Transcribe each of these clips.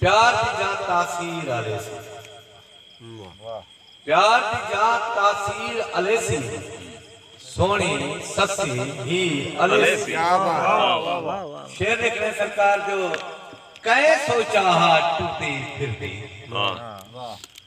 پیار دی جان تاثیر الیسی۔ پیار دی جان تاثیر الیسی۔ سوہنی سسی ہیر الیسی۔ شعر لکھݨے سرکار جو کئے سوچا ہا ٹردی پھردی۔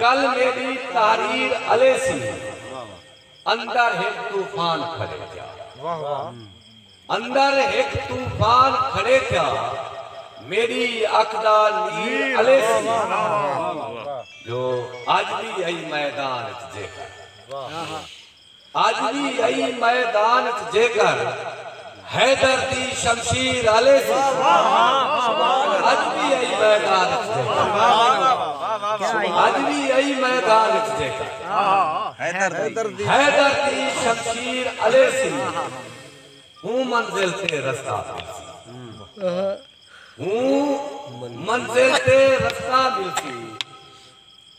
کل میڈی تحریر الے سی اندر ہک طوفان کھڑے تھیا اندر ہک طوفان کھڑے تھیا میڈی اکھ دا نیر الے سی جو اج وی ہئی میدان اچ جیکر۔ اج وی ایں میدان اچ جیکر حیدر دی شمشیر الے سی اج وی ایں میدان اچ جیکر اج وی ایں میدان اچ جیکر حیدر دی شمشیر الے سی ہوں منزل تے رستہ ملسی ہوں منزل تے رستہ ملسی۔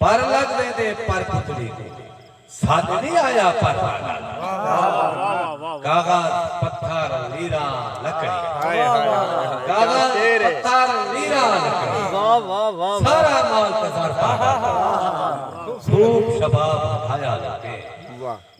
پر لگ ویندے پر پتلی کوں سد نی آیا پر واہ نال ماریا کاغذ پتھر لیراں لکڑی کاغذ پتھر لیراں لکڑی سارا مال تے زر پاگل تھوک شباب ودھایا لوکیں۔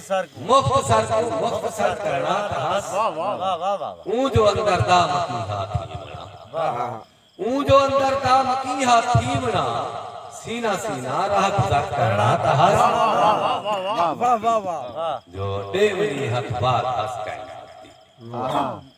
مختصر کوں مختصر کرݨا تہس اوں جو اندر دا مکی ہا تھیوݨا اوں جو اندر دا مکی ہا تھیوݨا سینہ سینہ راہ گزر کرݨا تہس جو ݙے ونی ہتھ بار ہس کائنات دی